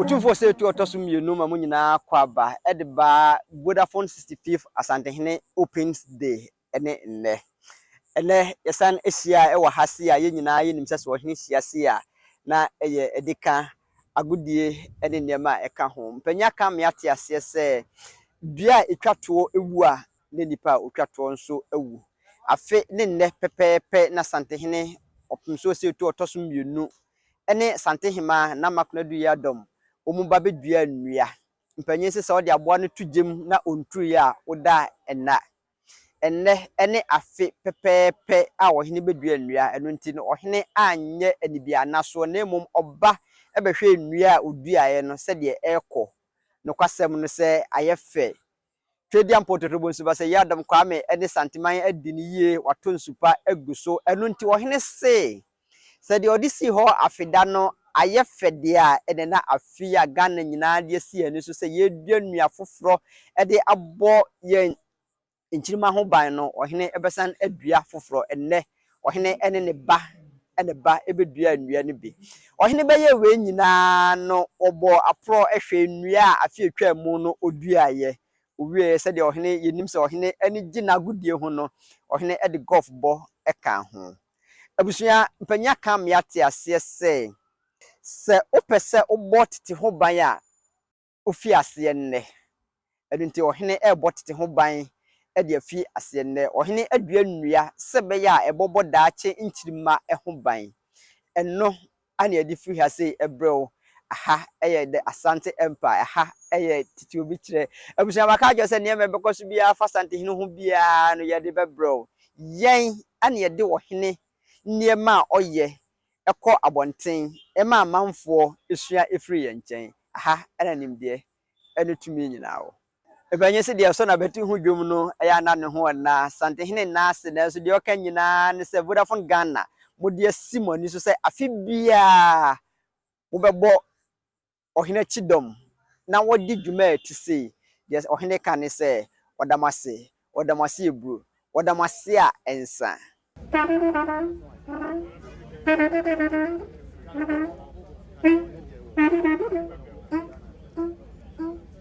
Otumfoɔ sɛ etu ɔtɔ so mmienu ma mo nyinaa kɔ aba de ba Vodafone 65th Asantehene Opens Day ne nnɛ. Ɛnnɛ yɛsan ahyia wɔ ha sei a yɛn nyinaa yɛnim sɛ sɛ ɔhene hyia sei a na ɛyɛ de ka agodie ne nneɛma a ɛka ho. Mpanyin aka ama yɛate aseɛ sɛ dua a ɛtwa toɔ wu a ne nnipa a wɔtwa toɔ nso awu. Afe ne nnɛ pɛpɛɛpɛ na Santehene Ɔpemso Osei-Otu a ɔtɔ so mmienu ne Santehemaa Nama Konadu Yiadom wɔn ba bɛduaa nnua. Mpanin nso sɛ wode aboa no to gya mu na ɔnturuiɛ a, woda nna. Ɛnnɛ ne afe pɛpɛɛpɛ a ɔhene bɛdua nnua, ɛno nti no ɔhene anyɛ anibiannasoɔ na mmom ɔba bɛhwɛɛ nnua a ɔduaeɛ no sɛdeɛ ɛrekɔ. Nokwasɛm no sɛ ayɛ fɛ Twedeɛ Mpɔtorobɔ nsuba sɛ Yiadom Kwame ne Santeman adi no yie wɔato nsupa agu so ɛno nti ɔhene se sɛ deɛ ɔde sii hɔ afe da no ayɛ fɛ deɛ a ɛnɛ na afe yi a Ghana nyinaa de asi yɛn ani so sɛ yɛredua nnua foforɔ de abɔ yɛn nkyirimma ho ban no ɔhene bɛsan adua foforɔ ɛnnɛ Ɔhene ne ne ba ne ne ba beduaa nnua no bi. Ɔhene bɛyɛɛ wei nyinaa no, ɔbɔɔ aporɔ hwɛɛ nnua a afe a etwaam mu no oduaeɛ. Ɔwieeɛ, sɛdeɛ ɔhene, yɛnim sɛ ɔhene ani gye n'agodie ho no, ɔhene de gɔlf bɔ kaa ho. Abusua mpanin aka ama yɛate aseɛ sɛ, sɛ wopɛ sɛ wobɔ tete ho ban a, ofi aseɛ nnɛ. Ɛno nti, ɔhene rebɔ tete ho ban de afi aseɛ nnɛ. Ɔhene adua nnua sɛ ɛbɛyɛ a ɛbɔbɔ daakye nkyirimma ho ban. Ɛno ara na yɛde firi ha sei brɛ wo. Aha yɛ The Asante Empire. Aha yɛ tete obi kyerɛ. Abusua, maka akyerɛ wo sɛ nneɛma a ɛbɛkɔ so biara afa Asante hene ho biara no, yɛde bɛbrɛ wo. Yɛn na yɛde ɔhene nneɛma a ɔyɛ kɔ abɔnten ma amanfoɔ sua firi yɛn nkyɛn. Aha na nimdeɛ ne tumi nyinaa wɔ. Ɛbɛ nyɛ sɛ deɛ ɔsɔ n'abati ho dwom no yɛ a na ne ho nna Asantehene nna ase nanso deɛ ɔka nyinaa ne sɛ Vodafone Ghana mode asi mo ani so sɛ afe biara mobɛbɔ ɔhene akyi dɔm na wɔde dwuma a ɛte sei, deɛ ɔhene ka ne sɛ, Wɔda mo ase, wɔda mo ase aburo, wɔda mo ase a ɛnsa.